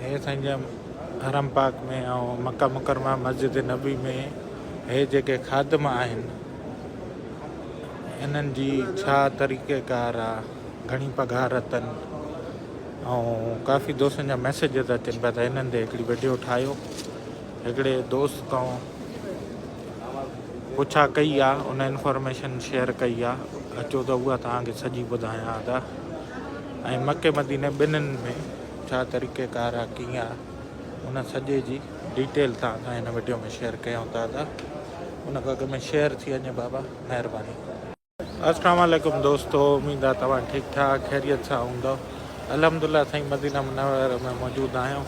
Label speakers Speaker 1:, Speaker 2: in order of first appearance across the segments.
Speaker 1: هيء سائين جن حرم پاڪ ۾ ۽ مڪه مڪرمه مسجد نبوي ۾ هيء جيڪي خادم آهن انهن جي ڇا طريقه ڪار آ گهڻي پگهار اٿن ۽ ڪافي دوستن جا ميسيجز اچن پيا ته هنن تي هڪڙي وڊيو ٺاهيو هڪڙي دوست تون پڇا ڪئي آ ان انفارميشن شيئر ڪئي آ اچو ته اها توهان کي سڄي ٻڌايان ٿا ۽ مڪي مديني ٻنهن ۾ ڇا طريقه ڪار آ ڪيئن آ ان سڄي جي ڊيٽيل تان سان هن وڊيو ۾ شيئر ڪيون ٿا ته ان کان اڳ ۾ شيئر ٿي وڃي بابا مهرباني. اسلام عليڪم دوستو اميد آ توهان ٺيڪ ٺاڪ خيريت سان هوندؤ الحمدلله سائين مدينه منوره ۾ موجود آهيون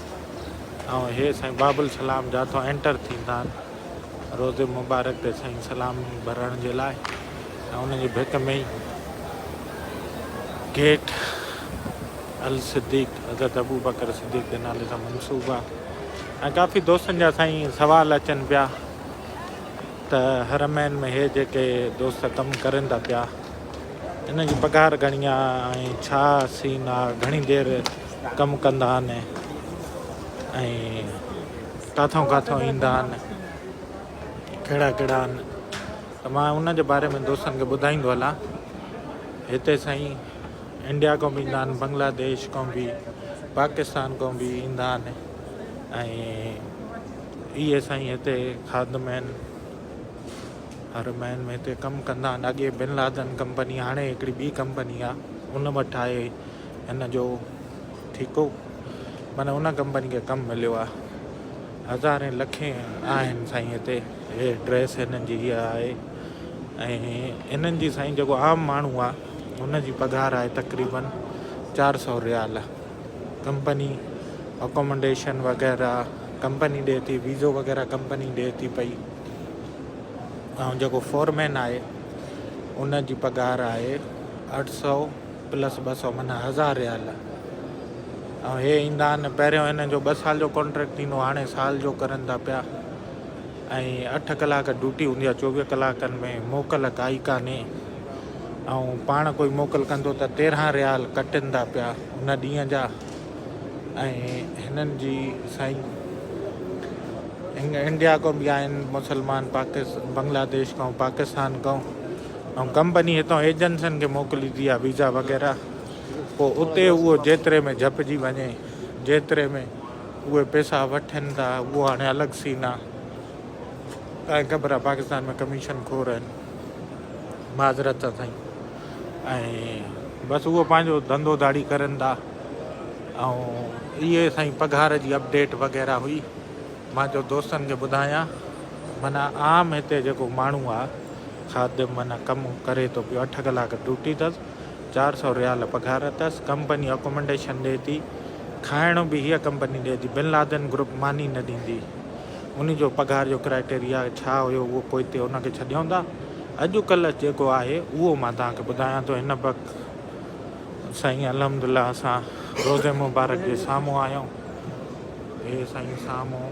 Speaker 1: ۽ هي سائين باب السلام جاتو انٽر ٿيندان روضي مبارڪ تي سائين سلام ڀرڻ جي لاء ۽ ان جي ڀت ۾ ئي گيٽ الصديق حضرت ابوبڪر صديق جي نالي سان منسوب آ ۽ ڪافي دوستن جا سائين سوال اچن پيا ته حرمين ۾ هي جيڪي دوست ڪم ڪرن ٿا پيا ان جي پگهار گهڻي آ ۽ ڇا سين آ گهڻي دير ڪم ڪندا آهن ۽ ڪاٿئون ڪاٿئون ايندا آھن ڪھڙا ڪھڙا آھن ته مان ان جي باري ۾ دوستن کي ٻڌائيندو ھلان ھتي سائين انڊيا کان به ايندا آھن بنگلاديش کان به پاڪستان کان به ايندا آھن ۽ اھي سائين ھتي خادم آھن ھر مھين ۾ ھتي ڪم ڪندا آھن اڳي بن لادن ڪمپني ھاڻي ھڪڙي ٻي ڪمپني آ ان وٽ آھي هن جو ٺيڪو معنيٰ ان ڪمپني کي ڪم مليو آ هزارين لکين آهن سائين هتي هي ڊريس هنن جي هيء آهي ۽ هنن جي سائين جيڪو عام ماڻهو آ هن جي پگهار آهي تقريبن چار سؤ ريال ڪمپني اڪومنڊيشن وغيره ڪمپني ڏي ٿي ويزو وغيره ڪمپني ڏي ٿي پئي ۽ جيڪو فورمين آهي ان جي پگهار آهي اٺ سؤ پلس ٻه سؤ معنيٰ هزار ريال ۽ هي ايندا آهن پهريون هنن جو ٻه سال جو ڪانٽريڪٽ ٿيندو هاڻي سال جو ڪرن ٿا پيا ۽ اٺ ڪلاڪ ڊيوٽي هوندي آهي چوويهه ڪلاڪن ۾ موڪل ڪائي ڪانهي ۽ پاڻ ڪوئي موڪل ڪندو ته تيرهن ريال ڪٽن ٿا پيا ان ڏينهن جا ۽ هنن جي سائين انڊيا کان به آهن مسلمان پاڪستان بنگلاديش کان پاڪستان کان ۽ ڪمپني هتان ايجنسن کي موڪليندي آهي ويزا وغيره پوء اتي اهو جيتري ۾ جهپجي وڃي جيتري ۾ اهي پيسا وٺن ٿا اهو هاڻي الڳ سين آهي تانکي خبر آهي پاڪستان ۾ ڪميشن خور آهن معذرت سان سائين ۽ بس اهو پنهنجو ڌنڌو ڌاڙي ڪرن ٿا ۽ اهي سائين پگهار جي اپڊيٽ وغيره هئي مان چيو دوستن کي ٻڌايان معنيٰ عام هتي جيڪو ماڻهو آ خادم معنيٰ ڪم ڪري ٿو پيو اٺ ڪلاڪ ڊوٽي ٿس چار سئو ريال پگهار اٿس ڪمپني اڪومنڊيشن ڏي ٿي کائڻ به هيء ڪمپني ڏي ٿي بن لادن گروپ ماني نه ڏيندي ان جو پگهار جو ڪرائيٽيريا ڇا هيو اهو پوئتي ان کي ڇڏيون ٿا اڄ ڪلهه جيڪو آهي اهو مان توهان کي ٻڌايان ٿو هن وقت سائين الحمدلله اسان روضي مبارڪ جي سامهون آهيون هي سائين سامهون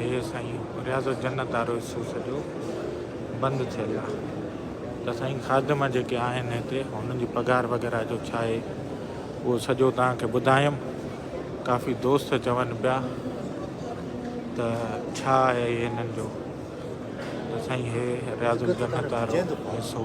Speaker 1: هي سائين رياض جنت وارو حصو سڄو بند ٿيل آ ته سائين خادم جيڪي آهن هتي هنن جي پگهار وغيره جو ڇا آهي اهو سڄو توهان کي ٻڌايم ڪافي دوست چون پيا ته ڇا آهي هنن جو ته سائين هي رياض جنت وارو حصو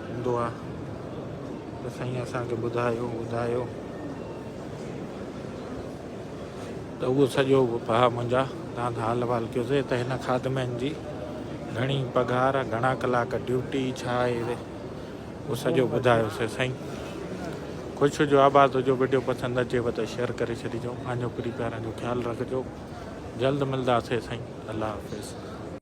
Speaker 1: هوندو آ ته سائين اسان کي ٻڌايو ٻڌايو ته اهو سڄو به پها منهنجا تان کان حال وال ڪيوسي ته هن خادمين جي گهڻي پگهار گهڻا ڪلاڪ ڊيوٽي ڇا آهي اهو سڄو ٻڌايو سي سائين خوش هجو آباد هجو ويڊيو پسند اچيو ته شيئر ڪري ڇڏيجو پنهنجو پري پيارن جو خيال رکجو جلد ملداسي سائين الله حافظ.